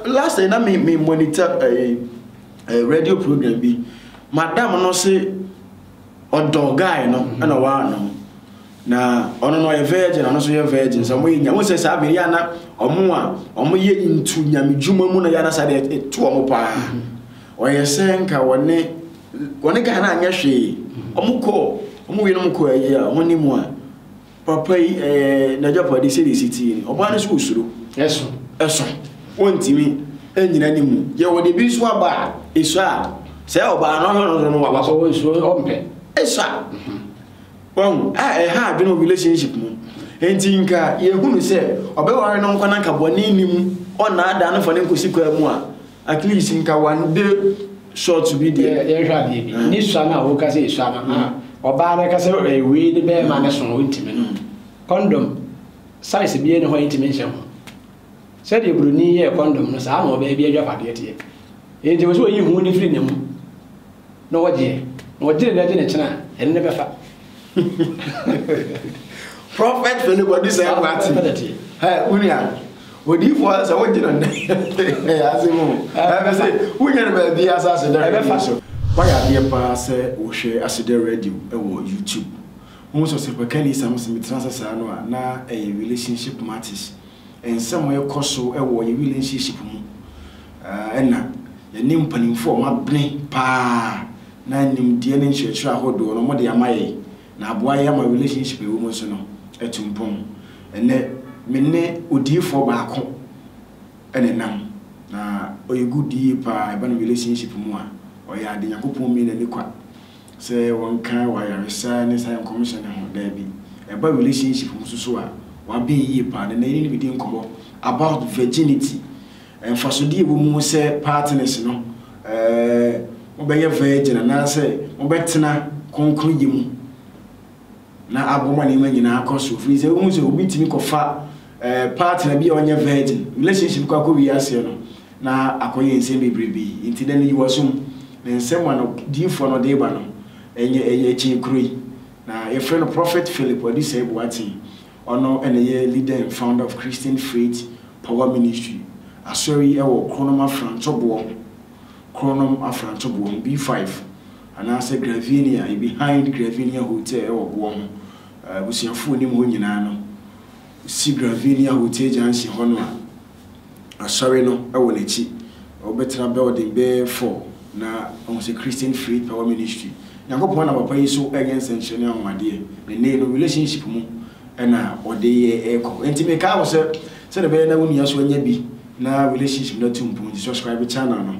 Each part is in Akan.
last na me me monitor ɛɛ eh, ɛɛ eh, radio program bi madam no se ɔdɔ guy no ɛna mhm. waa no na ɔno no ɔyɛ virgin ɔno nso yɛ virgin sɛ ɔmo yɛ nya wɔn sɛ saa bɛyɛ ana ɔmo a ɔmo yɛ ntu nyame dwuma mu na yɛ ana saa deɛ ɛto ɔmo paa mhm. ɔyɛ sɛ nka wɔne. Wɔne Ghana anyɛ hwee. Wɔn kɔ wɔn wienom kɔ ayi a wɔn ne mu a papa yi ɛɛ n'agyapade sɛ de si tie ni ɔbaa no so osuro. Ɛso. Ɛso wɔntumi ɛnyina ne mu yɛ wɔde ebi nso aba a eso a sɛ ɔbaa no ɔhwɛ no so no waba so. Ɔwɔ nsuo ɔmpɛ. Eso a wɔn a ɛha adwene wɔ relationship mu nti nka yɛhunu sɛ ɔbɛware no nkwa na nka bɔne ni mu ɔnaadaa no fa no nkɔsi kwaa mu a At least nka one day short bi deɛ. Yɛnhwɛ adeɛ bi, ne sua no a woka sɛ esua no, ah, ɔbaa no ka sɛ ɛyɛ wei ne bɛrima no so no, ontumi no. Kɔndɔm, size biara ni hɔ a yɛntumi nhyɛ ho. Sɛdeɛ Buroni yɛɛ kɔndɔm no, saa na ɔbaa bi adwapadeɛ teɛ. Enti ɛwɔ sɛ ɔyi ho no firi ne ho na ɔgyeɛ. Na ɔgyere na ɛgye ne kyene a, ɛno na ɛbɛfa. prophet fɛlɛ bɔ di sɛ ɛkò ati ɛ wunia odiifo sɛ wogye no nnɛ ase mu ɛbɛ sɛ wonya no baabi asa ase dɛ ɛbɛfa so wayɛ adeɛ paa sɛ wohwɛ ase dɛ radio ɛwɔ youtube ho sɛ sɛ pɛka ni sam sɛ metena sɛ saa no a na ɛyɛ relationship matters nsɛm ɛkɔ so ɛwɔ yɛ relationship mu ɛna yɛne mpanimfoɔ ɔma bene paa na nimdeɛ ne nkyerɛkyerɛ ahodoɔ no wɔde ama yɛn na aboa yɛn ama relationship a ɛwɔ mu nso no atu mpɔn. Ɛnnɛ me ne odiyifoɔ baako na ɛnam na ɔyɛ good yie pa ara ɛba no relationship mu a ɔyɛ ade Nyankopɔn mii n'ani kwa sɛ wɔnka wɔ ayaresa ne saa nkɔmhyɛ no ho daabi ɛba relationship mu nso so a wabɛn yie pa ara na ɛne no bɛdi nkɔmmɔ about virginity Mfasode a ɛwɔ mu sɛ partners no bɛyɛ virgin anaasɛ wɔbɛtena kɔnkɔnyɛ mu na abɔ ma nneɛma nyinaa akɔ so. Ɛfiri sɛ wohu sɛ obi tumi kɔfa partner bi a ɔnyɛ virgin, relationship kɔ akɔwie aseɛ no, na akɔyɛ nsɛm bebrebe. Nti dɛ no yi w'asom. Na nsɛm a no diyifoɔ no de ba no, ɛnyɛ ɛyɛ kyee kuro yi. Na yɛfrɛ no Prophet Philip Adusei Boateng. Ɔno na ɛyɛ leader and founder of Christian Faith Power Ministry, asɔre yi ɛwɔ Kronom Afrantoboɔ ho, Kronom Afrantoboɔ ho, B5, anaasɛ Gravinia, behind Gravinia Hotel ɛwɔ boɔ ho, abusuafoɔ nim hɔ nyinaa no, si Gravinia Hotel junction hɔ no a, asɔre no wɔ n'akyi. Ɔbɛtra building bɛyɛ four na ɔhu sɛ Christian Free Power Ministry. Nyankopɔn nam papa yi so reyɛ nsɛnkyerɛ ne anwanwadeɛ. Ne ne no relationship mu na ɔde yɛ ɛkɔ. Nti me kaa wo sɛ sɛde bɛyɛ na wo nua so anya bi na relationship no atu mpɔn nti subscribe channel no.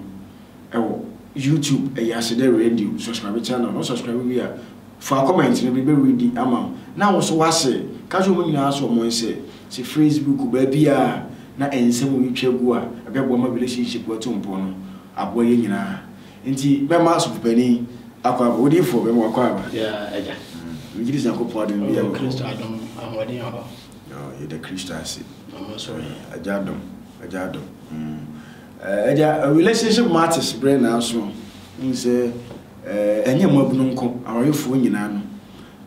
ɛwɔ YouTube ɛyɛ ase dɛ radio subscribe channel no subscribe wie a faa comment no bi bɛ read ama wo na wo so wase ka kyerɛ ɔmo nyinaa so ɔmo nsɛ se Facebook baabiaa na nsɛm wo retwa gu a ɛbɛ boa ma relationship atu mpɔn no aboa yɛ nyinaa nti bɛ ma asɔfo panin akwaaba wo diifoɔ bɛ ma wo akwaaba yeah agya megye di se Nyankopɔn adom bi ɛwɔ Kristo adom ahoɔden wɔ hɔ yɛda Kristo ase agya adom agya adom mm. Eh eh dia relationship matters brɛ nanso wohu sɛ eh ɛnyɛ mmabunu nko awarefoɔ nyinaa no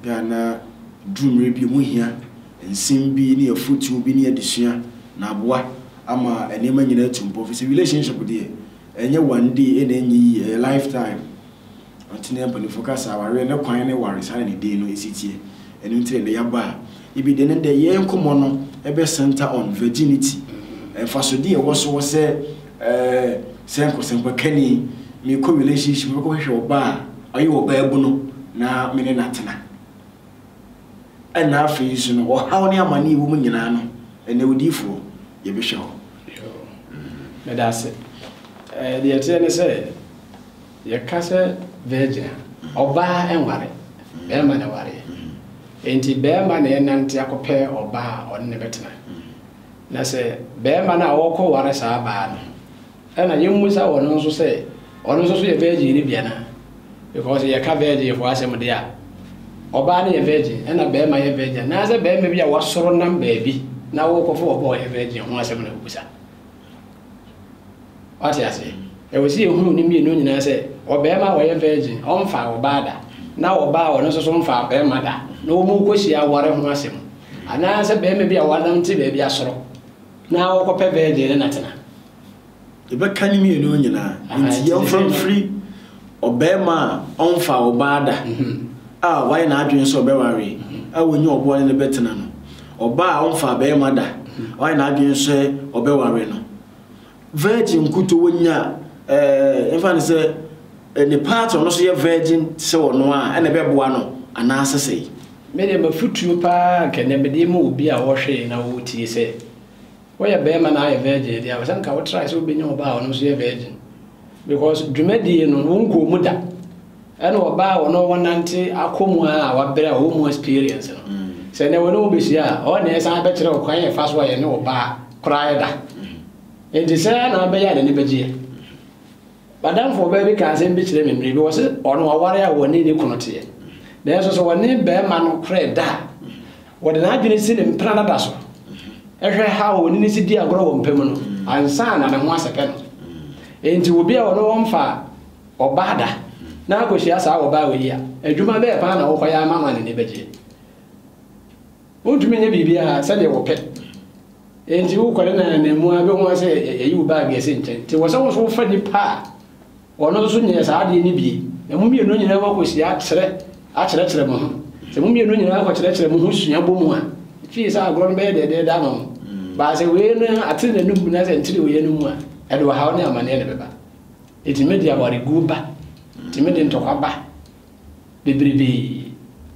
bɛ a na duru mmerɛ bi ɔmu hia nsem bi ne afotuo bi ne adesua na aboa ama nneɛma nyinaa atu mpɔ fisɛ relationship deɛ ɛnyɛ one day ɛna ɛnyɛ yie ɛyɛ life time. Ɔtene apanifo ka sɛ awareɛ ne kwan ne ware saa na ne din no si teɛ. Ɛno nti ɛnɛ yɛabɔ a ebi deɛ ɛnɛ deɛ yɛn nkɔmmɔ no bɛ centre on virginity, mfasodeɛ a ɛwɔ so wɔ sɛ eh, sɛ nkɔsɛmpakani mekɔ relationship mɛkɔ hwehwɛ ɔbaa a ɔyɛ ɔbaabuno na me ne no atena. Ɛna afei nso no ɔhaw ne amane ɛwɔ mu nyinaa no ɛnɛ odiyifoɔ yɛbɛhwɛ hɔ. Meda ase. Eh, deɛ ɛteɛ ne sɛ Yɛka sɛ virgin a, ɔbaa nware, bɛɛma na ɛwareɛ. Enti bɛɛma na ɛnante akɔpɛ ɔbaa a ɔne no bɛtena. Na sɛ bɛɛma no a ɔɔkɔ ware saa baa no, ɛna yɛmmisa ɔno nso sɛ ɔno nso so yɛ virgin no bi anaa? Because yɛka virgin foɔ asɛm deɛ a, ɔbaa no yɛ virgin, ɛna bɛɛma yɛ virgin, anaasɛ bɛɛma bi a wasoro nam baabi na ɔɔkɔfa ɔbaa a ɔyɛ virgin ho asɛm na wobisa? Wate aseɛ? Ɛwɔ sɛ yɛhunu ne mmienu nyinaa sɛ ɔbarima a ɔyɛ virgin ɔmfaa ɔbaa da na ɔbaa a ɔno nso so mfaa ɔbarima da na wɔkɔhyia aware ho asɛm anaa sɛ barima bi a wanante baabi asoro na ɔkɔpɛ virgin ne natena. Yɛbɛka ne mmienu nyinaa nti yɛmfa mfiri Ɔbarima a ɔmfaa ɔbaa da a wayɛ n'adwene sɛ ɔbɛware a wanya ɔboa ne no bɛtena no, ɔbaa a ɔmfaa barima da a wayɛ n'adwene sɛ ɔbɛware no, virgin nkutoo wanya ɛɛ mfa no sɛ ne part ɔno nso yɛ virgin te sɛ ɔno a ɛna ɛbɛboa no anaa sɛsɛe. Me deɛ mafutuo paa nka nea mede ma obi a ɔhwee na ɔretie sɛ Woyɛ bɛɛma na ayɛ virgin deɛ a sɛ nka wo try sɛ wobɛnya ɔbaa a ɔno nso yɛ virgin because dwumadie no wo nkɔɔ mu da ɛna ɔbaa a ɔno wɔnante akɔ mu a wabrɛ a ɔwɔ mu experience no mm. sɛ nɛ wɔne wo bɛhyia a ɔwɔ na ɛsan bɛkyerɛ wo kwan ɛfa so a yɛne ɔbaa koraa ɛda nti sɛ na abɛyɛ a n'ani bɛgyeɛ M'adamfo baa bi kaa asɛm bi kyerɛɛ me mmere bi. Ɔse ɔno ɔware a ɔne ne kunu teɛ. Nanso sɛ ɔne barima no korɛ da a, ɔde n'adwene si ne mpena dada so hwɛ how a ɔne no si di agorɔ wɔ mpa mu no ansa na ne ho asɛpɛ no. Enti obi a ɔne ɔmfa ɔbaa da na akɔhyia saa ɔbaa wei a, adwuma bɛɛ paa na wokɔyɛ ama no a n'ani bɛgye? Wontumi nyɛ biribiara sɛdeɛ wopɛ, enti wokɔ ne nan ananmu ara bɛhu ara sɛ yɛyi wo baage asi nkyɛn. Enti ɛwɔ sɛ wo nso wofa nipa a ɔno nso nyɛɛ saa adeɛ no bi, na mo mmienu nyinaa moakɔsi akyerɛ akyerɛkyerɛ mo ho. Sɛ mo mmienu nyinaa kɔkyerɛkyerɛ mo ho sua bɔ mu a, fie sɛ agorɔ no bɛyɛ dɛɛdɛɛdɛ ama mo. Baa sɛ wei no ate n'anom mu na sɛ ntire wei anom a, ɛde ɔhaw ne amanneɛ na ɛbɛba. Ɛtumi de awareguo ba, ɛtumi de ntɔkwa ba. bebrebe,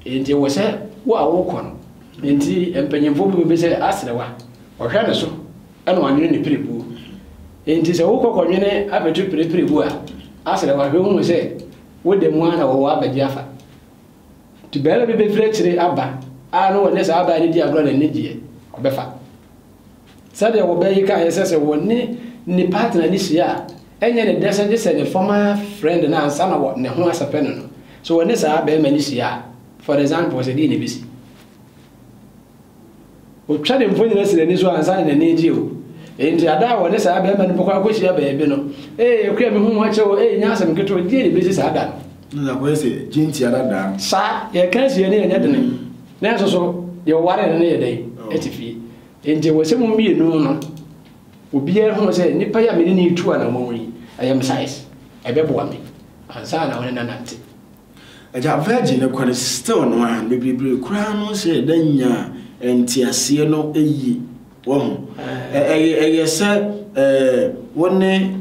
enti ɛwɔ sɛ wo a worekɔ no nti mpanyimfo bi bɛbisa sɛ, Aserewa? Ɔhwɛ ne so na wanwene ne pirebuo. Enti sɛ wokɔ kɔnwene abɛto pire pirebuo a, aserewa hwɛ hu sɛ wo da mu ara na wɔwɔ abɛgye afa. Nti barima bi bɛfiri akyire aba a na ɔne saa abaa no di agorɔ na n'ani gyeɛ, ɔbɛfa. Sɛdeɛ wɔbɛ yi kaeɛ sɛ sɛ wɔne ne partner no hyia a, ɛnyɛ ne dɛ sɛ gye sɛ ne former friend no ansa na wɔ ne ho asɛpɛ no no. Sɛ wɔne saa barima no hyia a, for example, sɛ deɛn na ɛbɛsi? Ɔtwa ne mfonini asi n'ani so ansa na n'ani agye o. Enti ada a wɔne saa barima no bɛkɔ akɔhyia baabi no, ee akua me ho ho akyɛ o, ee nyɛ asɛm ketewa, deɛn na ɛbɛsi saa da no? Na na kɔyɛ sɛ gyentia dada no. Saa, yɛka asie no ɛnyɛ dene. Nanso so deɛ ɔwaree no no yɛ dɛn? Ɛte fie. Enti ɛwɔ sɛ mo mmienu no, obiara hu sɛ nipa yi a me ne no retu anammɔn yi, ɛyɛ me size, ɛbɛboa me ansa na wo ne no anante. Agya Virgil no kɔre still no a, bebrebe koraa no sɛ yɛda nya nteaseɛ no yie, wahu. Ɛyɛ sɛ wo ne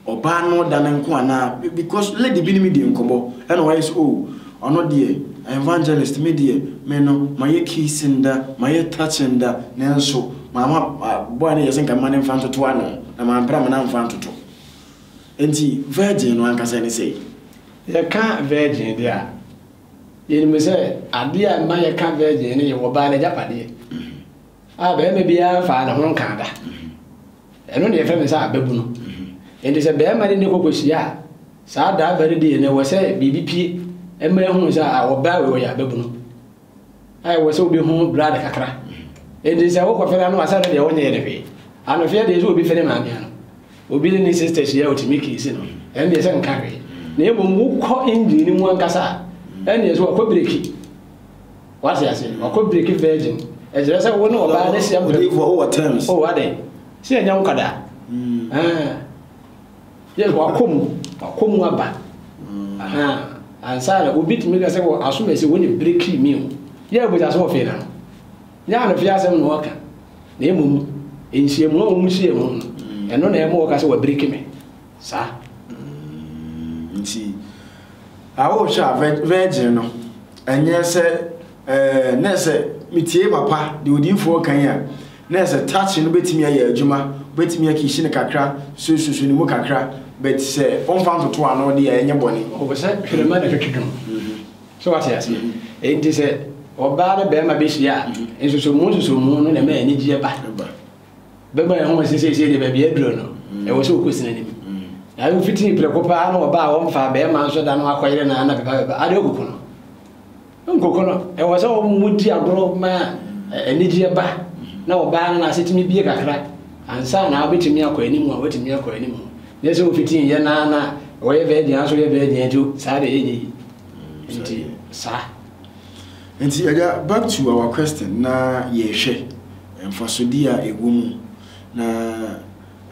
Ɔbaa no da ne nko anaa? Because lady bi ne me dii nkɔmmɔ ɛna ɔyɛ sɛ oh ɔno deɛ evangelist me deɛ me no mayɛ kissing da, mayɛ touching da nanso mamma boy no yɛ sɛ nka mema no mfa ntoto ano na mampɛ dɛ mena mfa ntoto. Enti virgin no ankasa ne sɛi? Yɛka virgin deɛ a, yɛnim sɛ adeɛ a ɛma yɛka virgin no yɛ ɔbaa no agyapadeɛ a barima biara mfaa ne ho nkaa da. Ɛno na yɛfrɛ me sɛ ababunu. Enti sɛ barima no ne kɔkɔhyia a, saa driver no deɛ na ɛwɔ sɛ biribi pie ɛma ɛhunu sɛ a ɔbaa wei ɔyɛ ababunu. A ɛwɔ sɛ obi ho blood kakra. Enti sɛ wokɔ fɛrɛ ano asɛ no deɛ ɔnyɛ ne hwee. Anofeɛ deɛ sɛ obi fɛrɛ maame ano, obi ne ne sister hyia a ɔtumi kiisi no, ɛno deɛ sɛ nka hwee. Na mmom wokɔ engine no mu ankasa a, ɛnneɛ so wakɔ breki. Wate ase? Wakɔ break virgin. Ɛkyerɛ sɛ wo ne ɔbaa ne hyɛ mprɛko. Ɔde fɔ wɔ terms. Oh, ade. Sɛ ɛnyɛ wo kada. Mm. Ah. Yes, wakɔ mu. Wakɔ mu aba. Mm. Aha. Ansa na obi tumi ka sɛ wɔ aso mɛsi wo ne break mi o. Yɛ abuja so ɔfɛ na no. Nyɛ anofe asɛm na ɔka. Na emu mu. Nhyiamu a wɔn hyia mu no. Mm. Ɛno na ɛmo ɔka sɛ wɔ break me. Saa mm nti a wohwɛ a vɛ virgin no ɛnyɛ sɛ ɛɛ nɛ sɛ metie papa deɛ odiifoɔ kan a nɛ sɛ touch no bɛtumi ayɛ adwuma bɛtumi akishi no kakra sususu ne mu kakra but sɛ ɔmfa ntoto ano deɛ ɛnyɛ bɔne. Ɔwɔ sɛ twerɛma na ɛtwetwe ho so wate aseɛ ɛnti sɛ ɔbaa ne bɛrima bɛhyia a nsusumu nsusumu no na ɛma anigyeɛ ba. bɛma yɛn ho sɛ seesei deɛ baabi aduro no ɛwɔ sɛ ɔkɔsi no anim na ayi fitiri prɛko paa na ɔbaa wɔmfa bɛrima nso da no akɔyere no ana bɛba bɛba ade ɔkoko no nkoko no ɛwɔ sɛ wɔn di agorɔ ma anigyeɛ ba na ɔbaa no n'ase tumi bie kakra ansa na wobɛtumi akɔ anim a wobɛtumi akɔ anim nyɛ sɛ wofiti yɛ naa na wɔyɛ bɛɛ deɛ nso yɛ bɛɛ deɛ nti saa deɛ yɛ yɛ yi nti saa Ntsi yɛda back to our question na yɛhwɛ mfasodie a ɛwɔ mu na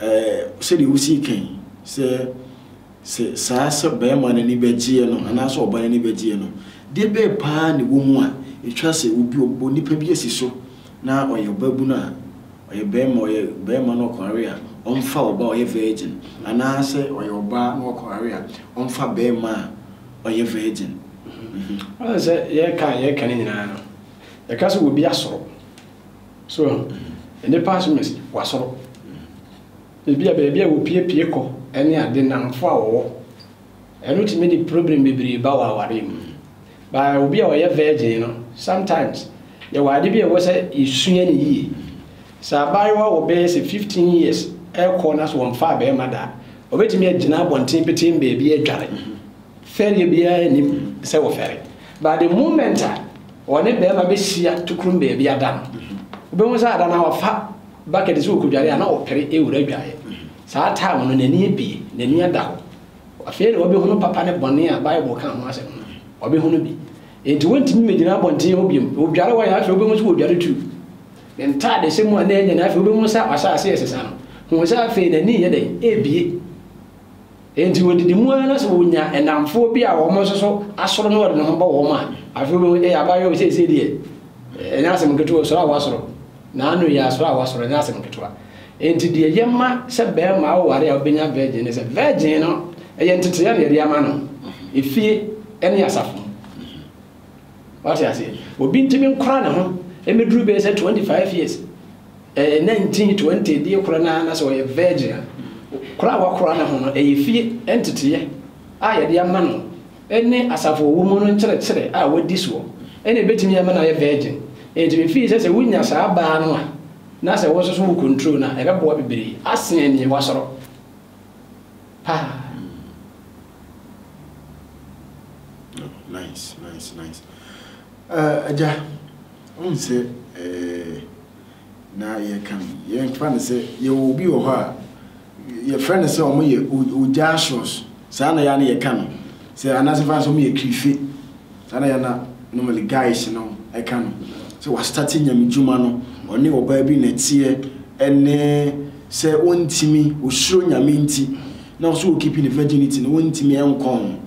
eh sɛdeɛ wosii ka yi sɛ sɛ saa sɛ barima no ani bɛgyeɛ no anaasɛ ɔbaa no ani bɛgyeɛ no deɛ bɛɛ paa na ɛwɔ mu a ɛtwa sɛ obi ɔbɔ nipa bi asi so na ɔyɛ ɔbaabunu a ɔyɛ barima ɔyɛ barima na ɔkɔware a ɔmfa ɔbaa a ɔyɛ virgin anaasɛ ɔyɛ ɔbaa na ɔkɔware a ɔmfa barima a ɔyɛ virgin. Ɔyɛ sɛ yɛka a yɛka ne nyinaa no, yɛka sɛ obi asoro. So, nnipa so mesi, wasoro. Ebi a baabi a wɔpiepie kɔ ne ade nnamfo a wɔwɔ. Ɛno tumi de problem bebree ba wɔ awareɛ mu. Ba obi a ɔyɛ virgin no, sometimes yɛwɔ ade bi a ɛwɔ sɛ yɛsua no yie. Sɛ abaayewa wɔ bɛyɛ sɛ fifteen years rekɔ na so wɔmfaa barima da a, obetumi agyina abɔnten petee baabi adware. Fɛreɛ biara nnim sɛ wɔfɛre. But the moment a ɔne barima bɛhyia tokrom baabi ada no, wobɛhu sɛ ada no a wafa bucket sɛ ɔrekɔdware a, na ɔpere awura adwareɛ. Saa time no, n'ani abue, n'ani ada hɔ. Afei na wabɛhunu papa ne bɔne a Bible ka ho asɛm no, wabɛhunu bi. Enti wɔntumi mmɛgyina abɔnten hɔ bio. Ɔdware hɔ a, afei wobɛhu sɛ ɔredware too. Ne ntadehyɛ mu a na ɛnyɛ no, afei wobehu sɛ wahyɛ ase resesa no. Hu sɛ afei n'ani reyɛ dɛn? Rebue. Enti odidi mu ara na sɛ onya nnamfoɔ bi a wɔn nso so asoro na ɔde ne ho bɔ wɔn a, afei wobehu, ee, abaayewa yi seesei deɛ, ɛnyɛ asɛm nketewa, osuro a wasoro. N'ano yɛ asoro a wasoro, ɛnyɛ asɛm nketewa. Enti deɛ ɛyɛ ma sɛ barima aware a obenya virgin ne sɛ, virgin no, ɛyɛ nteteɛ na yɛde ama no, efie ne asafo mu. Wate ase? Obi ntumi nkora ne ho mmeduru bɛyɛ sɛ twenty five years, ɛɛ nineteen, twenty deɛ kora no ara na sɛ ɔyɛ virgin a, kora a wakora ne ho no, ɛyɛ fie nteteeɛ a yɛde ama no ne asafo ɔwɔ mu no nkyerɛkyerɛ a wadi soɔ ɛna ebetumi ama no ayɛ virgin. Enti me fii sɛ sɛ wonya saa baa no a, na sɛ wo nso so wo control no a, ɛbɛboa bebree asen nea wasɔrɔ paa. No, nice, nice, nice. Uh, Aja, um sɛ eh, na yɛka no yɛmfa no sɛ yɛwɔ obi wɔ hɔ a yɛfrɛ no sɛ ɔmo yɛ ogyaasos saa na yɛa ne yɛka no sɛ anaasɛ fa sɛ ɔmo yɛ kirife Saa na Yana normally guys no ɛka no sɛ wa start nyame dwuma no ɔne ɔbaa bi na ɛteɛ ɛne sɛ ɔntimi ɔsuro nyame nti na ɔso wɔ keeping ne virginity no ɔntimi ɛnkɔ ho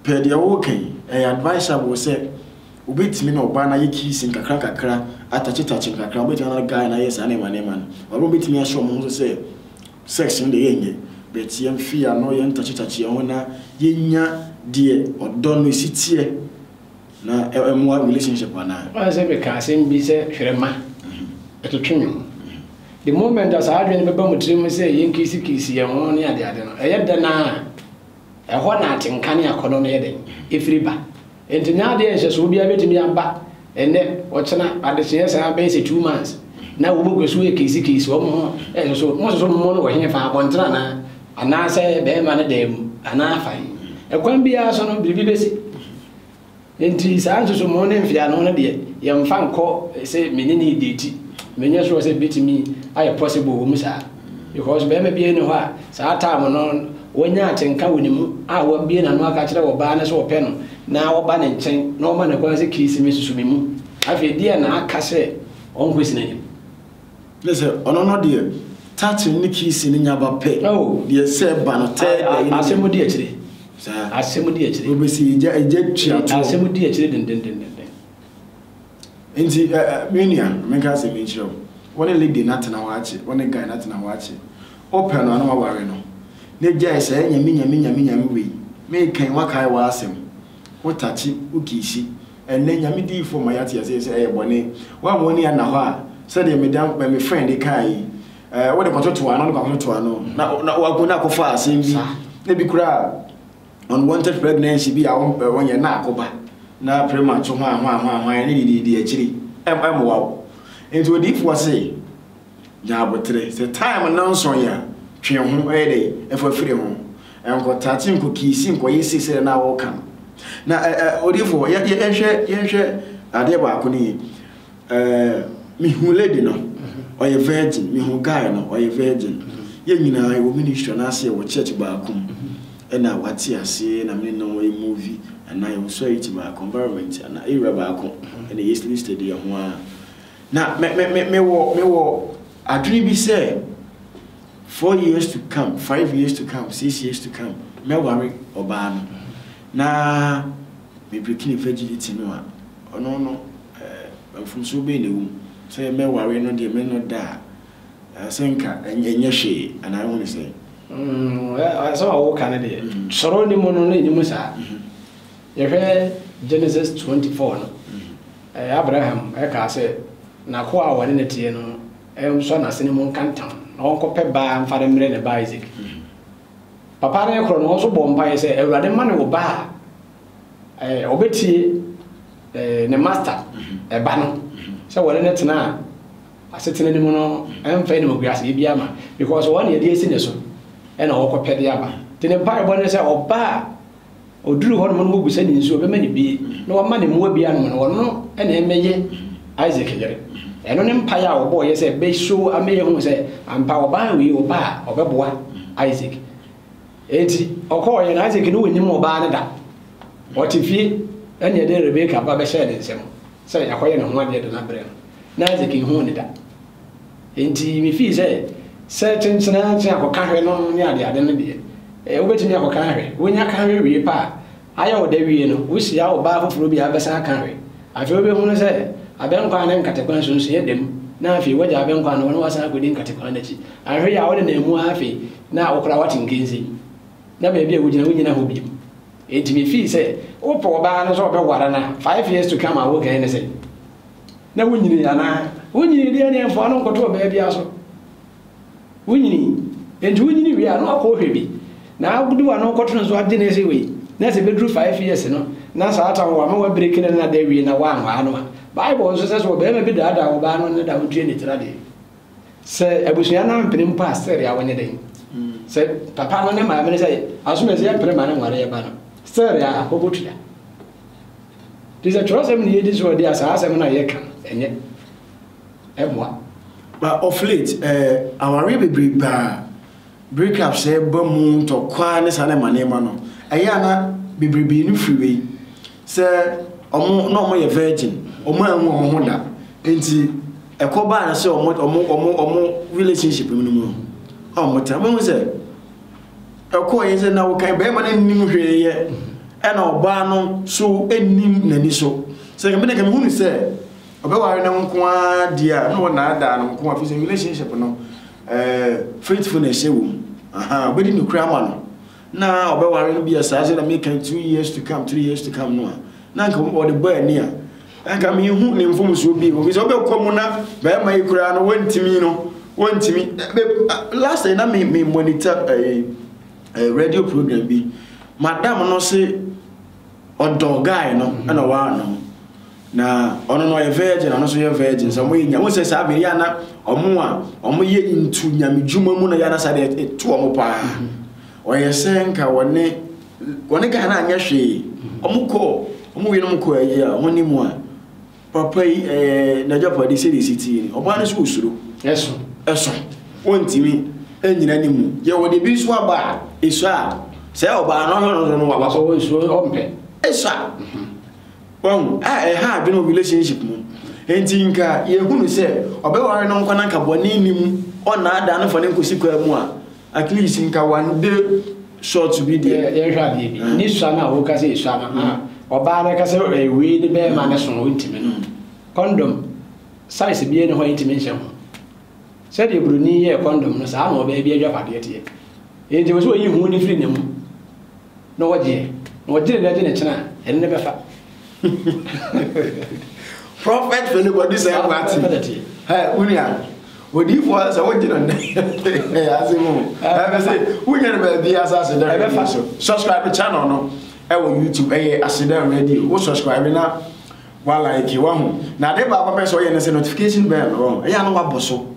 pɛ deɛ ɔɔka yi ɛyɛ advisable sɛ ɔbɛtimi na ɔbaa no ayɛ kissing kakra kakra atakye takye kakra ɔbɛtimi na guy no ayɛ saa nneɛma nneɛma no ɔbɛtimi ahyɛ ɔmo ho so sɛ Sex no deɛ yɛ nyɛ but yɛn fi ano yɛn takye takye yɛn ho na yɛ nya deɛ ɔdɔ no si teɛ na ɛmoa relationship anaa. Woayɛ sɛ me ka asɛm bi sɛ twerɛma ɛtwetwe me mu the moment a saa adwene no bɛba mo tiri mu sɛ yɛn kisi kisi yɛn ho ne ade ade no ɛyɛ dɛn ara a ɛhɔ na atenka ne akɔnɔ no yɛ dɛn ɛfiri ba Enti na adeɛ nhyɛsoɔ biara bɛtumi aba ɛnnɛ, ɔkyena, adekyee saa bɛyɛ sɛ two months na wɔn kɔ so ɛkesi kesi wɔn ho ɛsoso mo soso mo no wɔ he fa abɔntene anaa anaasɛ bɛrima no dan mu anaa fa he ɛkwan biara so no biribi bɛsi enti saa nsoso mo ne mfeano no deɛ yɛmfa nkɔ sɛ mene ne deti menyɛ soɔ sɛ bɛtumi ayɛ possible wɔ mu saa. Because barima biara nni hɔ a saa time no wanya atenka wɔ ne mu a wabue n'ano aka akyerɛ ɔbaa no sɛ ɔpɛ no na ɔba ne nkyɛn na ɔma no kwan sɛ Kirisime susu me mu. Afei deɛn na aka sɛ ɔnkɔsi n'anim? Kyerɛ sɛ ɔno no deɛ touching ne kissing no nya ba pɛ. Oh. Deɛ sɛ ɛba no tɛɛ A- a- dɛn. Asɛm mu di akyire. Saa. Asɛm mu di akyire. Wobɛsi egya egya tua toɔ. Asɛm mu di akyire dendendenden. Enti, ɛ, ɛ, me nua, ma menka asɛm yi nkyerɛ wo. Wo ne Lydie no atena hɔ akyɛ, wo ne Guy no atena hɔ akyɛ. Wopɛ no a, na woaware no. Na gyae saa nyame, nyame, nyame, nyame wei. Mereka yi, woakae w'asɛm. Wo takye, wo kiisi. Ɛnnɛ, nyame diyifoɔ ma yɛate aseɛ sɛ ɛyɛ bɔne. Woamma w'ani anna hɔ a, sɛdeɛ me da, ɛ, me friend kae yi, ɛ, wode kɔtotow ano, wode kɔakɔtotow ano. Na, na, na woakɔfaa asɛm bi, ebi koraa. unwanted pregnancy bi a wompɛ wɔnyɛ na akoba na premature hwan hwan hwan hwan ne dididi akyiri ɛmmoa wo nti odiifoɔ se nya abotere sɛ time nnɔnson a twe ho ɛyɛ dɛ ɛfa firi ho ɛnkɔtate nkɔkiisi nkɔyɛ si sɛ na wɔka no na odiifoɔ yɛnhwɛ yɛnhwɛ adeɛ baako no yie Ɛɛ mehu lady no ɔyɛ virgin mehu guy no ɔyɛ virgin yɛn nyinaa yɛwɔ ministry anaasɛ yɛwɔ church baako mu ɛna wate aseɛ na mene no yɛ movie anaa yɛwɔ sɔriti baako environment anaa area baako ɛna yɛsi listed yɛ ho a na me me me mewɔ mewɔ adwene bi sɛ four years to come five years to come six years to come mɛware ɔbaa no na mebreaking virginity no a ɔno no Eh, mfomsoɔ bɛn na ɛwɔ mu? Sɛ mɛware no deɛ mennɔ da a, ah, sɛ nka ɛnyɛ hwee, anaa wohu no sɛn? Mm, eh, asɛm a woka no deɛ, mm. sɔrɔ ne mu no na ɛnim saa. Mm -hmm. Yɛhwɛ Genesis 24 no, mm -hmm. eh, Abraham ɛkaa sɛ, n'akoa a wɔne no teɛ no, ɛnsɔ eh, n'asene mu nka ntam, na ɔnkɔpɛ baa mfa no mmerɛ ne ba Isaac. Mm -hmm. Papa no korɔ no, wɔn nso bɔ mpaeɛ sɛ, Awurade ma ne wo ba a Ɔbɛtie ne masta ɛba no sɛ wɔne no tena asetena no mu no ɛmfa animguaseɛ bi ama because wɔn yɛde asi ne so ɛna ɔkɔ pɛde aba nti ne mpaebɔ ne sɛ ɔba a ɔduru hɔ nom no wɔbu sɛ ne nsuo ɔbɛma ne bie na wɔma ne mmoa bi anom no ɔno ɛna ɛmɛyɛ Isaac yere ɛno ne mpaeɛ a ɔbɔ ɔyɛ sɛ bɛso amɛyɛ hu sɛ ampa ɔbaa wei ɔba a ɔbɛboa Isaac Enti ɔkɔeɛ, na Isak no ɔnnim ɔbaa no da. Ɔte fie, ɛnna yɛde Rebeka ba bɛhyɛɛ ne nsam sɛ yɛakɔyɛ ne ho adeɛ de no abrɛ no, na Isak nhuu no da. Enti mefii sɛ, Sɛ kyenkyenantsen akɔka hwɛ no ne adeade no deɛ, wobɛtumi akɔka ahwɛ. Wonya ka hwɛ wie pɛ a, Ayɛ wo dɛ wie no, wohyia ɔbaa foforɔ bi a abɛsan aka we. Afei wobɛhunu sɛ abɛnkwan ne nkatekwan so nso yɛ dɛ mu, na afei woagya abɛnkwan no hɔ na woasan akɔdi nkatekwan no akyi. Anhwɛ yie a wonenam mu ara afei na wo koraa woate nkensin, na baabi a wogyina wonnyina hɔ bio. Enti mefii sɛ wopɛ ɔbaa no sɛ ɔbɛware no a, five years to come a wokae no sɛn? Na wonyinii anaa? Wonyinii deɛ ɛneɛ mfa wo no nkɔto ɔbaa biara so. wonyinii nti wonyini wie a na wakɔ hwɛ bi na wode wano kɔto no so agye ne se wei na sɛ bɛduru five years no na saa ta wɔ ama wabreki no na da wie na wanwaa no a bible nso sɛ sɛ ɔbarima bi daadaa ɔbaa no ne da wontua ne tira deɛ sɛ abusua no ampene mpo a sɛre a wɔnyɛ dɛn sɛ papa no ne maame no sɛ asome sɛ yɛmpene ma no nware yɛba no sɛre a wɔbɔtua nti sɛ twerɛsɛm ne yɛdi so ɔde a saa asɛm no a yɛka ɛnyɛ ɛmmoa. But of late eh, awareɛ bebree baa breakups eh, ba mu ntɔkwaa ne saa nneɛma nneɛma no, ɛyɛ a na bebrebee no firi wei sɛ ɔmo na ɔmo yɛ virgin, ɔmo anhu ɔmo ho da, nti ɛkɔ baa no sɛ ɔmo ɔmo ɔmo ɔmo relationship no mu no a ɔmo tena mo hu sɛ ɛkɔɔ yɛ sɛ na wɔkan bɛrima no nnim hwee yɛ ɛna ɔbaa no so nnim n'ani so sɛ kɛmɛ na kɛmɛ hu no sɛ Ɔbɛware no nko ara deɛ a na wɔnaadaa no nko ara fi sɛ relationship no eh, faithfulness hyɛ wɔ mu aha ɔbɛdi ne kura ama no na ɔbɛware no bi a saa sɛ na meka two years to come three years to come no a na nka ɔde bɔ ani a nka mehu ne mfomsoɔ bi ofi sɛ ɔbɛkɔ mu na bɛrima yi koraa no wɔntumi no wɔntumi last na me me monitor eh, eh, radio program bi madam no se Ɔdɔ guy no ɛna wanom. Na ɔno no ɔyɛ virgin ɔno nso yɛ virgin sɛ ɔmo yɛ nya wɔn sɛ saa bere yɛ ana ɔmo a ɔmo yɛ ntu nyame dwuma mu na yɛ ana saa deɛ ɛto ɔmo paa ɔyɛ sɛ nka wɔne wɔne guy no anyɛ hwee ɔmo kɔ ɔmo wie no mo kɔ ɛyɛ a ɔmo ne mu a Papa yi ɛɛ n'agyapade sɛdeɛ ɛsi teɛ ni. Ɔbaa no nso ɔsuro. Ɛso. Ɛso. Ɔntumi nnyina ne mu. Yɛ wɔde bi nso aba a, ɛsɔ a, sɛ ɔbaa no ɔhwɛ no so no waba. Ɔwɔ nsuo ɔmpɛ. Ɛsɔ a. Wahu a ɛha adwene wɔ relationship mu. Enti nka yɛhunu sɛ ɔbɛware no nkwa na nka bɔne nni mu, ɔnnaadaa no mfa no nkɔsi kwaa mu a, At least nka one day short bi deɛ. Yɛ yɛnhwɛ adeɛ bi. Mm. Ne sua no a woka sɛ esua no, ah, mm. ɔbaa no ka sɛ ɛyɛ eh, wei ne bɛrima no so no wontumi no. Mm. Condom size bi ne hɔ a yɛntumi nhyɛ ho. Sɛdeɛ buroni yɛ condom no saa na ɔbaa bi adwapadeɛ teɛ. Enti wɔ sɛ ɔyi ho ne firi ne mu na ɔgyeɛ. Na ɔgyere na agye ne kyena ɛno ne bɛfa. prɔfɛt fɛlɛ bɔ di sɛ ɛkò ati ɛ wunia odiifo a sɛ wogye no nnɛ ase mu ɛbɛ sɛ wonya no baabi asase dɛ ɛbɛfa so subscribe channel no ɛwɔ youtube ɛyɛ asedɛ radio wo subscribe na wa like wahu na ade baako pɛ sɛ ɔyɛ no sɛ notification bell wɔ ɛyɛ ano wabɔ so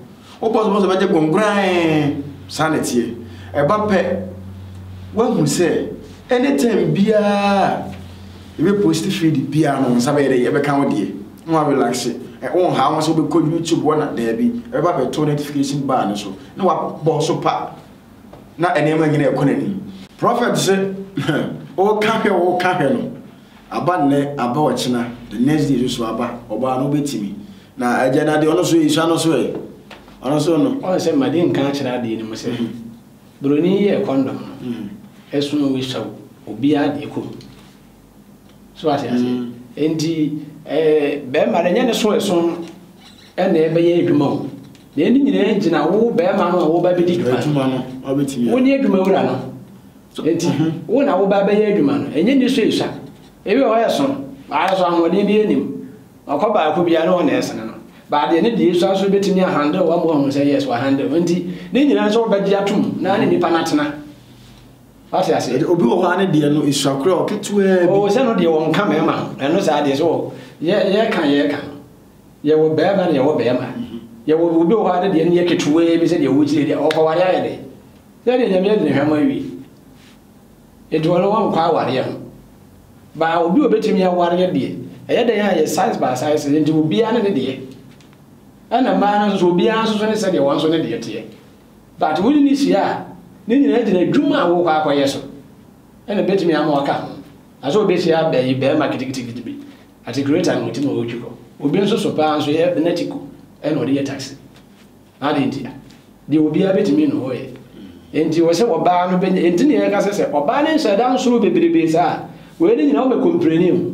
Wobɔ so bɔ so bɛgye kɔnkoraa saa na ɛteɛ. Ɛba pɛ woahu sɛ anytime biara yɛbɛ post feed biara no nsa bɛyɛ dɛ yɛbɛka wo deɛ na wa relax wo nhaa ho sɛ wobɛkɔ YouTube wɔ na daabi ɛbɛba bɛto notification bar no so na wabɔ so pa na nneɛma nyina ɛkɔ n'anim. Prophet se woka hwɛ woka hwɛ no Aba nnɛ, aba ɔkyena, the next day nso aba, ɔbaa no wobɛtumi. Na agya no adeɛ, ɔno nso ɛsua no so ɛ, ɔno nso no. Ɔn sɛ mma de nka akyerɛ adeɛ no mu sɛ, Broni yɛɛ kɔndɔm no, ɛso na ɔsua obiara deɛ kɔ mu. So ate aseɛ? Enti ɛɛ bɛrima no ɛnyɛ ne so ɛso ɛna ɛbɛyɛ adwuma o. Deɛ ne nyinaa gyina wo bɛrima no a wɔba bɛdi dwuma no. Wo ne adwuma wura no. Enti, wo na woba abɛyɛ adwuma no, ɛnyɛ nisuasua. Ebi wɔ hɔ a ɛso, nanso ahoɔden biara nnim. Ɔkɔ baako biara no hɔ na ɛsene no. But deɛ ne deɛ sua nso bɛtumi a handle ama wahu sɛ yes wa handle. Enti, ne nyinaa nso wobɛgye atom na ne nipa no atena. Wate ase? Ɛde obi wɔ hɔ a ne deɛ no esua kura wɔ ketewaa bi. O sɛ no deɛ wɔn nka mɛma ho. Ɛno saa deɛ so yɛ yɛ ka yɛ ka. Yɛ wɔ bɛɛma na yɛ wɔ bɛɛma. Yɛ wɔ obi wɔ hɔ a ne deɛ no yɛ ketewaa bi sɛ deɛ wɔkyerɛ deɛ ɔkɔware ayɛ dɛ. Dɛn na Nyame adwene hwɛ ma awie? Enti wɔno wɔnkɔ awareɛ ho. Baa obi a obetumi awareɛ deɛ, ɛyɛ dɛn a ɛyɛ size by size, enti obiara ne ne deɛ. Ɛna mmaa no nso so, obiara nso so ne sɛdeɛ wɔn nso ne deɛ teɛ. But wo ne no hyia a, ne nyinaa gyina adwuma a worekɔ akɔyɛ so, ɛna ebetumi ama waka ho. Na sɛ obehyia bɛyi bɛrima kitikitikiti bi, atikireta na ɔte mu a ɔretwi kɔ. Obi nso so paa nso yɛ bɛnɛtiko ɛna ɔde yɛ taxi. Adɛn ntia? Deɛ obiara bɛtumi ne hɔ yɛ. Enti wɔ sɛ ɔbaa no bɛnya, enti ne yɛka sɛ sɛ ɔbaa no nhyɛ da nsoro bebrebe saa a, wei ne nyinaa ɔmɛ kompreni ho.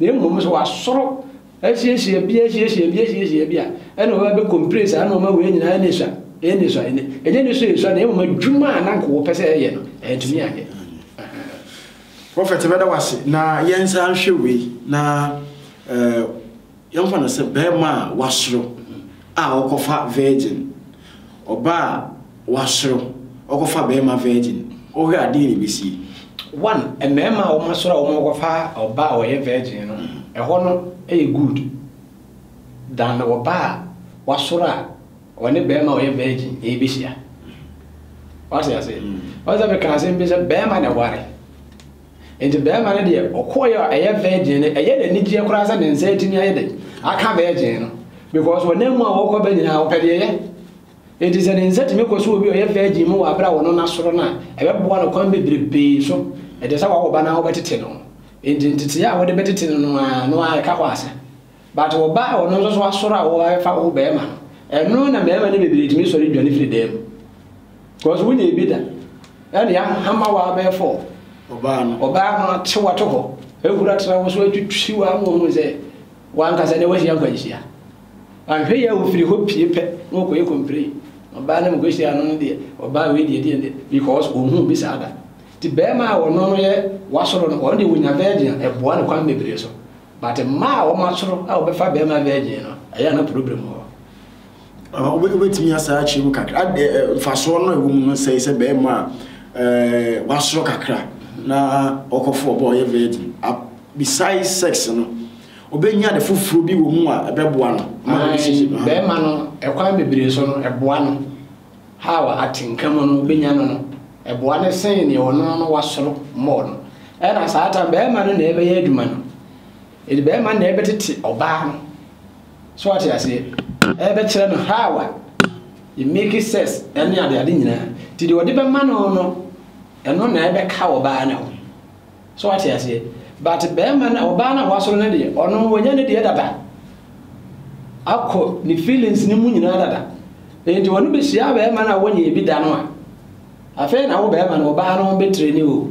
Na mmom sɛ wasoro asiesie bi asiesie bi asiesie bi a, ɛna ɔbaa bɛ kompre saa na ɔma wei nyinaa ne sua, ɛne sua, ɛne, ɛnyɛ ne sua esua na mmom adwuma a na nka wɔpɛ sɛ ɛyɛ no, ɛntumi anyɛ. Prophet bɛda wase na yɛnsa nhwɛ wei na uh, Yɛmfa no sɛ barima a wasoro a ɔkɔfa virgin, ɔbaa a wasoro ɔkɔfa barima virgin, wohwɛ a dɛn na ɛbɛsie? One, mmarima a wɔasɔre a wɔkɔfa ɔbaa a ɔyɛ virgin no, ɛhɔ no yɛ good than ɔbaa a wasɔre a ɔne barima a ɔyɛ virgin ɛrebɛhyia. Wate aseɛ? Ɔsɛ mekaa asɛm bi sɛ barima na ɛware. Enti barima no deɛ ɔkɔeɛ a ɛyɛ virgin no ɛyɛ no anigyeɛ koraa sɛ ne nsa atumi ayɛ dɛ aka virgin no because wɔnam mu a wɔkɔ bɛ nyinaa wɔpɛ deɛ ɛyɛ Enti sɛ ne nsa tumi kɔ so obi a ɔyɛ virgin mu wɔ abere a wɔno no asoro no a ɛbɛboa no kwan bebrebee so ɛte sɛ wawo ba no a wobɛtete no Enti nteteeɛ a wode bɛtete no no ara no ara ɛka hɔ ase But wo ba a ɔno nso so asɔre a w'abɛfa wo bɛɛma no, ɛno na mɛɛma no bebree tumi sɔre dwane firi dan mu. Cause wo nyɛ bi da, ɛna ya hama wo abɛɛfɔ ɔbaa no, ɔbaa no ate wo ato hɔ, ahura tra wo so atwitwi wo ama ohun sɛ wankasa ne wahyia nkwanhyia. Wanhwɛ yɛ wo firi hɔ pie pɛ na ɔkɔ yɛ complain, ɔbaa no mokɔ hyia no no deɛ, ɔbaa wei deɛ deɛ deɛ, because ohun bi saa da. Ti bɛɛma a ɔno no yɛ wasɔre no, ɔno deɛ onya virgin a ɛboa no kwan bebree so. But mmaa a wɔn asoro a wɔbɛfa bɛrima virgin no, ɛyɛ a na problem wɔ hɔ. Ah, wobɛtumi asa akyerɛ mu kakra ah, eh, eh, mfasoɔ no ɛwɔ mu no sɛe sɛ bɛrima a eh, wasoro kakra na ɔkɔfo ɔbɔ ɔyɛ virgin ah, besides sex no ɔbɛnya de foforɔ bi wɔ mu a ɛbɛboa no bɛrima no ɛkwan bebree so no ɛboa no Hawa atsenka mu no obenya no no, ɛboa no sen nea ɔno ara wasɔr mbɔɔ no. Nna Satan bɛrima no na ɛbɛyɛ adwuma no. Ntsi bɛrima no na ɛbɛtsetse ɔbaa no. So ɔatse aseɛ? Ɛrebɛkyerɛ no Hawa yɛ make sex ne adeade nyinaa. Ntsi deɛ ɔde bɛma no no, ɛno na ɛbɛka ɔbaa no ho. So wate aseɛ? But bɛɛma no, ɔbaa no a wasɔre no deɛ, ɔno wanya ne deɛ dada. Akɔ ne feelings no mu nyinaa dada. Enti ɔno bɛhyia bɛɛma no a wɔnyɛɛ bi da no a, afei na wo bɛɛma no, ɔbaa no bɛtire ne o.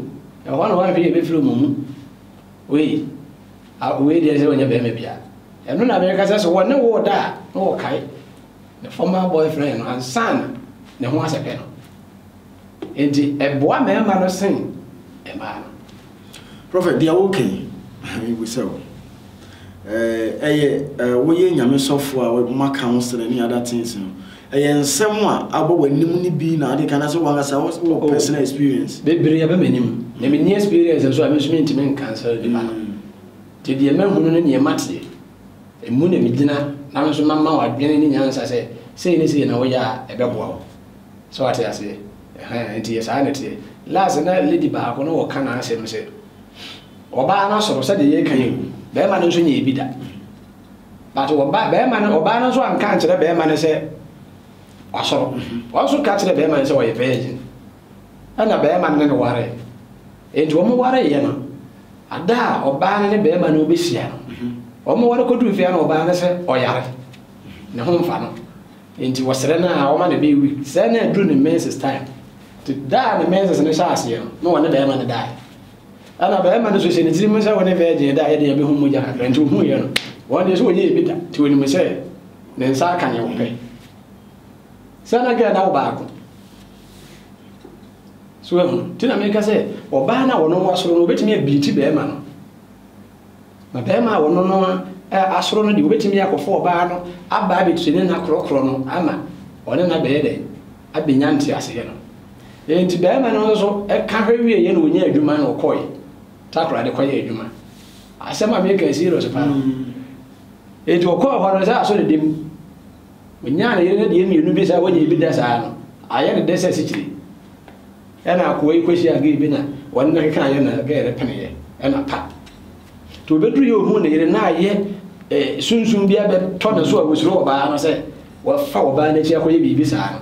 Ɛhɔ na wɔnhwɛ yɛbɛfiri wɔn mu. Wei, a, wei deɛ sɛ ɔnyɛ bɛɛma bia. Ɛno na mɛka sɛ so wɔ ne wo da a, na wɔkae ne former boyfriend no ansa na ne ho asɛpɛ no. Enti ɛboa mmarima no sen mmaa no. Prɔfɛt, deɛ woka yi, mebisa o, ɛyɛ woyɛ Nyame sɔfoɔ a wɔma counseling ne other things no, ɛyɛ nsɛm a abɔ w'anim no bi na ade ka na sɛ wankasa wɔ oh. personal experience? Bebree ɛbɛ m'anim, na menni experience nso a me nso mentumi nkansɛl nipa no. Mm. Nti deɛ mahunu ne deɛ mateɛ, ɛmu na megyina na me nso mama w'adwene ne nyansa sɛ sei ne sei na woyɛ a ɛbɛboa wo. So wate aseɛ? Ɛhɛn, enti yɛ saa na ɛteɛ. Last na lady baako no ɔka n'asɛm sɛ, ɔbaa no soro sɛdeɛ yɛka yi o, bɛɛma no nso nyɛɛ bi da. But ɔba, bɛɛma no, ɔbaa no nso anka ankyerɛ bɛɛma no sɛ wasoro. Ɔnso ka kyerɛ bɛɛma no sɛ ɔyɛ virgin. Ɛna bɛɛma no ne no waree. Enti wɔn wareeɛ no, ada a ɔbaa no ne bɛɛma no ɔbɛhyia no, wɔn ware kɔduru fie a na ɔbaa no sɛ ɔyare, ne ho mfa no. Enti wɔsrɛ no a wɔma no bɛyɛ week sɛɛ na aduru ne menses time nti da a ne menses no hyɛ aseɛ no na wɔne bɛɛma no daeɛ ɛna bɛɛma no nso hyɛ ne tiri mu sɛ wɔne virgin da yɛde yɛbɛhu mogya kakra nti ohuuiɛ no wɔn deɛ sɛ wɔyɛ ebi da nti wɔnim sɛ ne nsa aka ne wɔpɛ sɛ na dwɛ na wo baako so ɛho nti na meka sɛ ɔbaa no a wɔno wasoro no wɔbɛtumi abiiti bɛɛma no Na barima a ɔno no ara asɔre no deɛ, ɔbɛtumi akɔfa ɔbaa no aba abɛtire ne nna korɔkorɔ no ama ɔne no abɛyɛ dɛn? Abɛnya nteaseɛ no. Enti barima no nso ka hwɛ wieeɛ na ɔnyaa adwuma na ɔkɔeɛ Takoradi kɔyɛɛ adwuma. Asɛm a meka serious paa. Enti ɔkɔɔ hɔ no sɛ asɔ ne dɛ mu. Ɔnyaa ne yere no deɛ mmienu bi saa wɔnyɛ bi da saa no, ayɛ ne dɛ sɛ asikyire. Ɛna akoa yi kɔhyiaa gay bi na wɔne no kekaeɛ na gay no peneeɛ ɛna pa. Nti ɔbɛduru yɛ ɔhuu ne yere na ayɛ eh, sunsum bi abɛtɔ ne so a ɔsuro ɔbaa no sɛ wɔfa ɔbaa no akyi akɔyɛ biribi saa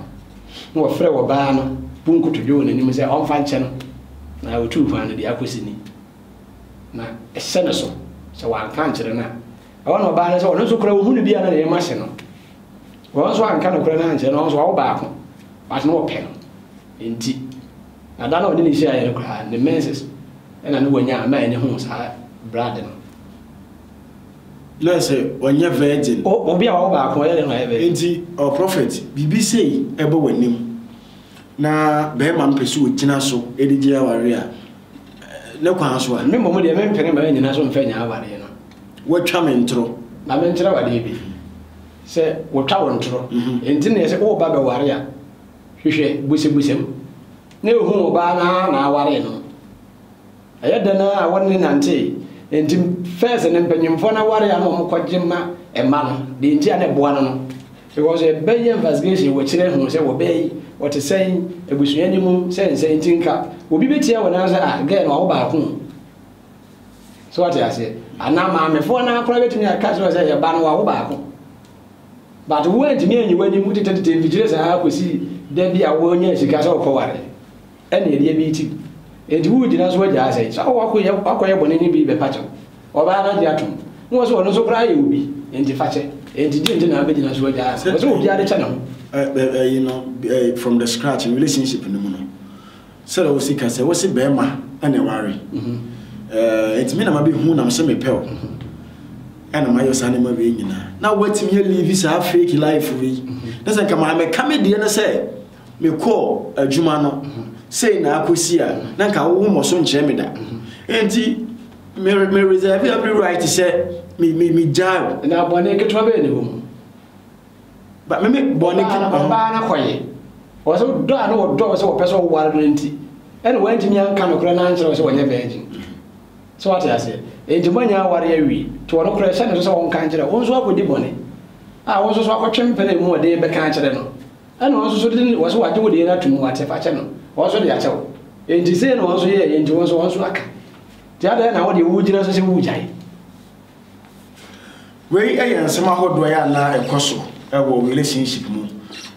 no na wɔfrɛ ɔbaa no bu nkotodwe wɔ n'anim sɛ ɔmfa nkyɛ no na ɔtuu kwan no de akɔ sini na ɛhyɛ ne so sɛ wanka nkyerɛ no a ɛwɔ na ɔbaa no sɛ ɔno nso koraa ɔhu no bi a na ne yam ahye no wɔn nso anka no koraa no ankyerɛ no ɔno nso ɔwo baako but na ɔpɛ no nti, na da no a ɔne no hyiaeɛ no koraa, ne menses na na wanya a na ɛne ho saa blood no. Na sɛ ɔnyɛ virgin. O, obi a ɔwɔ baako ɛyɛ dɛn na wayɛ virgin? Nti, ɔ prophet, biribi sei ɛbɔ w'anim, na barima no pɛ sɛ ɔgyina so de gye awareɛ a, ne kwan so a. Me mmom deɛ, mempene m'anyina so mfa nya awareɛ no. Wɔatwa me ntoro. Ma menkyerɛ wo adeɛ bi, sɛ wɔtwa wo ntoro, nti na ɛsɛ woba bɛware a. Hwehwɛ bosebosem na ehu ɔbaa no ara na awaree no. Ɛyɛ dɛn ara a wɔne no nantee. Enti first no mpanyimfoɔ no aware a na wɔn kɔgye ma mma no deɛ nti a na ɛboa no no because ɛbɛyɛ investigation wɔ kyerɛ hu sɛ wɔ bɛɛ yi wɔte sɛn abusua ni mu sɛ nsɛn nti nka obi bɛtia wɔ nan sɛ ah gɛɛ no awo baako so wɔte aseɛ anaa maamefoɔ no akora bɛtumi aka kyerɛ sɛ yɛ ba no wawo baako. But wo antumi anyi w'ani mu tetetete mfikyire saa kɔsi da bi a wonyaa sika sɛ wokɔware ɛne adeɛ bi ti enti wogyina so agyaa sɛe sɛ wakɔyɛ wakɔyɛ bɔne ne bi bɛpa kyɛw ɔbaa no agye atom ne wɔ sɛ ɔno nso koraa yɛ obi enti fa kyɛ enti gye nti na abɛgyina so agyaa sɛ wɔ sɛ obiara de kyɛ ne ho. ɛyi no from the scratch relationship no mu no. Sɛdeɛ wosi ka sɛ wose bɛɛma na ne ware eh nti me na ma bɛ hu na mse me pɛ o eh na ma yɔ saa nneɛma wei nyina na watumi yɛ live saa fake life wei ne sɛ nka maa me ka me deɛ no sɛ me kɔ adwuma no sei na akɔ si a na nka wo mmɔ so nkyerɛ me da nti me me reserve every right sɛ me me me gyae o na abɔne ketewa bɛyɛ ne hɔ mu Ba meme bɔne ɔbaa no ɔbaa no kɔye wɔ sɛ dɔ a na wɔdɔ wo sɛ wɔpɛ sɛ wɔware no nti ɛna wantumi anka nokorɛ no ankyerɛ wo sɛ wɔnyɛ virgin sɛ wate aseɛ enti moanya aware awie nti wɔno korɛ hyɛ ne so sɛ wɔnka nkyerɛ wo nso akɔdi bɔne a wo nso so akɔtwe mpene mu ɔde bɛka akyerɛ no ɛna wɔn nso so de wɔ so wagye wo deɛ no ato mu wate fakyɛ no wɔn nso de akyɛ wo enti sei na wɔn nso yɛɛ enti wɔn nso wɔn nso aka nti adɛn na wo deɛ wogyina so sɛ wogyae Wei yɛ nsɛm ahodoɔ yɛ ana ɛkɔ so wɔ relationship mu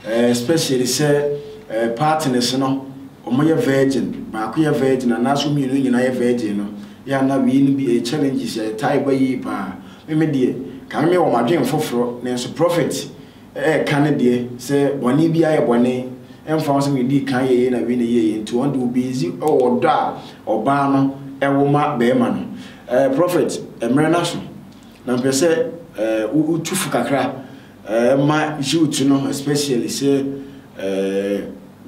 eh, especially sɛ eh, partners no wɔn yɛ virgin baako yɛ virgin anaasɛ mmienu nyinaa yɛ virgin no yɛ ana wei no bi ɛyɛ eh, challenges yɛ eh, ɛtaa ɛba yie paa meme deɛ kame me wɔn adwene foforɔ nanso prophet ɛka ne deɛ sɛ bɔne biara yɛ bɔne ɛmfa ho sɛ wei dii kan yɛyɛ na wei na ɛyɛ yɛ nti wɔn de obeezi wɔ ɔdɔ a ɔbaa no ɛwɔ ma bɛrima no ɛɛ prɔfɛt mmerɛ no aso na mpɛ sɛ ɛɛ wotu fo kakra ɛɛ ma youth no especially sɛ ɛɛ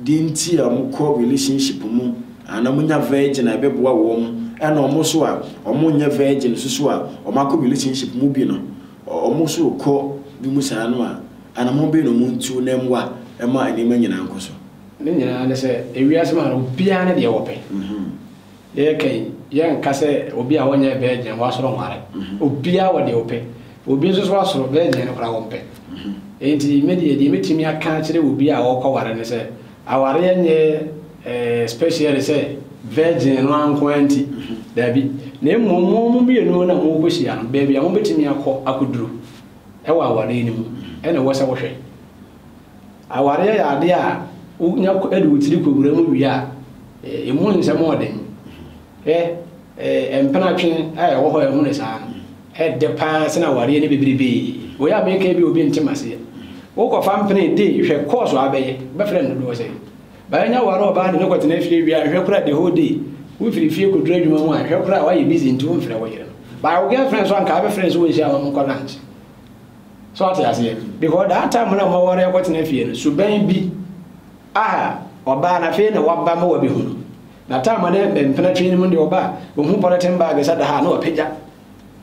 deɛ nti a wɔkɔ relationship mu ana wɔnya virgin a ɛbɛboa wɔn ɛna wɔn so a wɔnyɛ virgin soso a wɔn akɔ relationship mu bi no. Wɔn nso rekɔ bi mu saa no a, anammɔn bɛn na wɔntu na ɛmmoa ma nneɛma nyinaa nkɔ so? Ne nyinaa ne sɛ, wiase mu ha no, obiara ne deɛ ɔpɛ. Yɛreka yi, yɛnka sɛ obi a ɔnyɛ virgin wasɔre nware. Obiara wɔ deɛ ɔpɛ. Obi nso so asɔre, virgin no koraa ɔmpɛ. Enti me deɛ, deɛ mɛtumi aka akyerɛ obi a ɔrekɔware ne sɛ, Awareɛ nyɛ ɛɛ special sɛ virgin no ara nko ara nti. Daabi. Na mmom mo mo mmienu na morekɔhyia no, baabi a mobɛtumi akɔ akɔduru wɔ awareɛ no mu na ɛwɔ sɛ wohwɛ. Awareɛ yɛ adeɛ a wonya de wo tiri kɔwura mu wie a, ɛmu nsɛm ɔɔden. Hwɛ ɛɛ mpenatwe a ɛwɔ hɔ a ɛho ne saa no. Ɛdɛ paa sen awareɛ ne bebrebe. Wei a meka yi bi a obi nte maseɛ. Wo kɔ fa mpene de hwɛ course a abɛyɛ. Wobɛfrɛ no dodoɔ sɛn? Bɛanya ware ɔbaa de no kɔ tena fie wie a hwɛ koraa the whole day. Wo firi fie kɔ duru adwuma mu a hwɛ koraa wayɛ busy nti wo mfrɛ wo yere no. But wo girl friend so anka abɛfrɛ no sɛ wɔnhyia wɔn nkɔ lunch. So ɔte aseɛ? Because that time na mo ware akɔ tena fie no suban bi aha ɔbaa no afei na waba ma wabɛhunu. Na taama ne mpena twi no mu deɛ ɔba a, ɔhu pɔlɛten baage sɛ da ha a, na wapagya.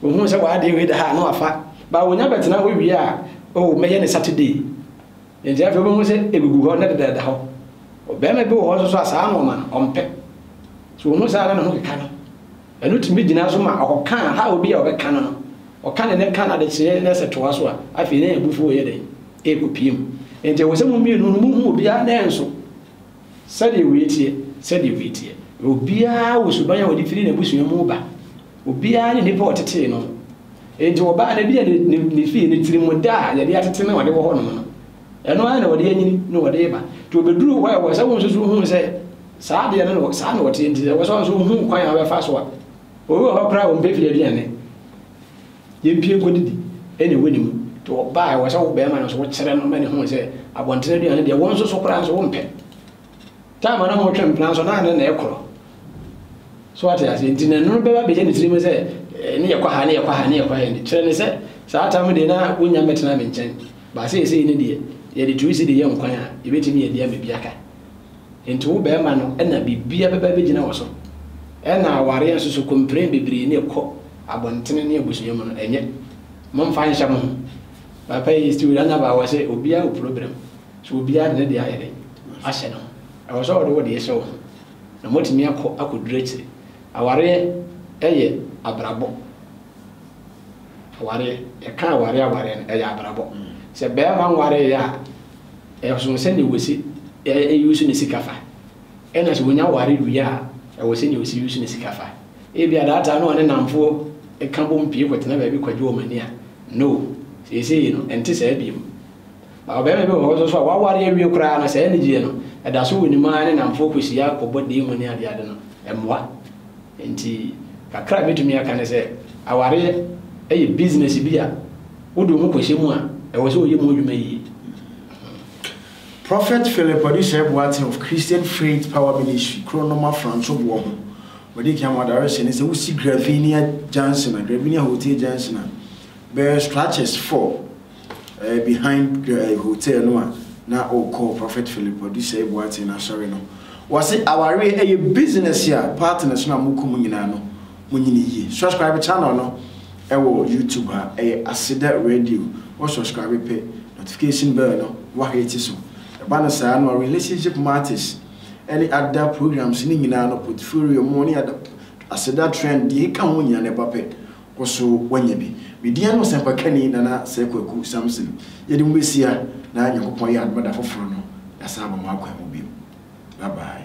Ɔhu sɛ w'adeɛ wei da ha a, na wafa. Ba ɔnya bɛtena hɔ wie a, oh, mɛyɛ ne Saturday. Nti afei wobɛhu sɛ ɛgugu hɔ na deda da hɔ. Ɔbarima bi wɔ hɔ nso so a, saa nnoɔma no, ɔmpɛ. So ɔhu saa na ne ho keka no? Ɛno tumi gyina so ma ɔkɔka a, how bi a ɔbɛka no no, ɔka ne ne ka no adekyeɛ na sɛ toa so a, afei na abufuo reyɛ dɛn? Ɛrekɔpue mu. Nti ɛwɔ sɛ mo mmienu no, mohu obiara nan so. Sɛdeɛ wei teɛ, sɛdeɛ wei teɛ. Na obiara wɔ suban a ɔde firi n'abusua mu ba. Obiara ne nnipa a ɔtetee no. Enti ɔbaa no, ebia ne, ne, ne fie, ne tirimmuda a yɛde atete no a ɔde wɔ hɔnom no, ɛno ara na ɔde anyini na ɔde reba. Nti ɔbɛduruu hɔ a, ɛwɔ sɛ wo nso so hu sɛ saa adeɛ no na, saa na ɔteɛ. Nti ɛwɔ sɛ wo nso wohu kwan a wobɛfa so a. Obi wɔ hɔ koraa a ɔmpɛ fie aduane. Yɛmpie nkɔdidi ɛne wo ne mu. Nti ɔbaa a ɛwɔ sɛ wo bɛɛma no nso wo kyerɛ no ma no hu sɛ abɔntene aduane deɛ wo nso so koraa nso wo mpɛ. Time a na mo twe mpena nso na ane na ɛkorɔ. So wate aseɛ nti na ɛno bɛba bɛyɛ ne tirim sɛ eh, ne yɛkɔ ha ne yɛkɔ ha ne yɛkɔ ha ne kyerɛ ne sɛ saa tam deɛ na wonya mɛtena me nkyɛn. Baasɛ ɛsɛ ne deɛ yɛde tuusi de yɛ nkwan a yɛbɛtumi yɛ deɛ ma bi aka. Enti wo bɛɛma no na biribiara bɛba abɛgyina wo so. Ɛna awareɛ nso so kompiren bebree ne ɛkɔ abɔntene ne abusua mu no ɛnyɛ. Momfa nhyɛ mo ho. Papa yi still anya ba wɔ sɛ obiara wɔ program. So obiara de ne deɛ ayɛ dɛn ahyɛ ne ho. Ɛwɔ sɛ wode wo deɛ hyɛ wo ho na moatumi akɔ akɔduru akyire. Awareɛ yɛ abrabɔ. Awareɛ, yɛka awareɛ awareɛ no, ɛyɛ abrabɔ. Sɛ bɛɛma nwareeɛ a, ɛsono sɛdeɛ wɔsi ɛyusu ne sika fa. Ɛna sɛ wɔnya ware wie a, ɛwɔ sɛdeɛ wɔsi yusu ne sika fa. Ebia daataa no ɔne namfoɔ ka bom pie kɔtena baabi kɔgye wɔn ani a, no, seesei no, ɛnte saa biom. Ba ɔbɛɛma bi wɔ hɔ nso so a, waware awie koraa no, saa anigyeɛ no, ɛda so wɔ ne mu ara ne namfoɔ kɔhyia kɔbɔ deemu ne adeade no, ɛmmoa. Enti kakra a metumi aka ne sɛ awareɛ yɛ business bi a wode wo ho kɔhyɛ mu a, ɛwɔ sɛ woyɛ mu adwuma yie. Prophet Philip Odisɛe Boateng of Christian Faith Power Ministry, kuro no ma Franco boɔ ho. Wɔdi kan ma direction ne sɛ wosi Gravinia Junction a, Gravinia Hotel Junction a, bɛyɛ structures four Ɛyɛ behind eh, hotel no a na ɔkɔ Prophet Philip Odusei Boateng n'asɔre no. Wɔse awareɛ ɛyɛ business a partners no a mokɔ mu nyinaa no monyini yie. Subscribe channel no ɛwɔ YouTube ha ɛyɛ Aseda Radio. Wɔ subscribe pɛ notification bell no wahete so. Ɛba no saa no a relationship matters ɛne ada programs no nyinaa no portfolio mu ne ada Aseda trend deɛ ɛka ho nyinaa no ɛba pɛ. Kɔ so wanya bi. Me din ane Ɔsɛmpakani Nana Sir Kwaku Samson. Yɛde mo besia na Nyankopɔn yɛ adom a da foforo no yɛasan aba mo akwan mu bio. Bye bye.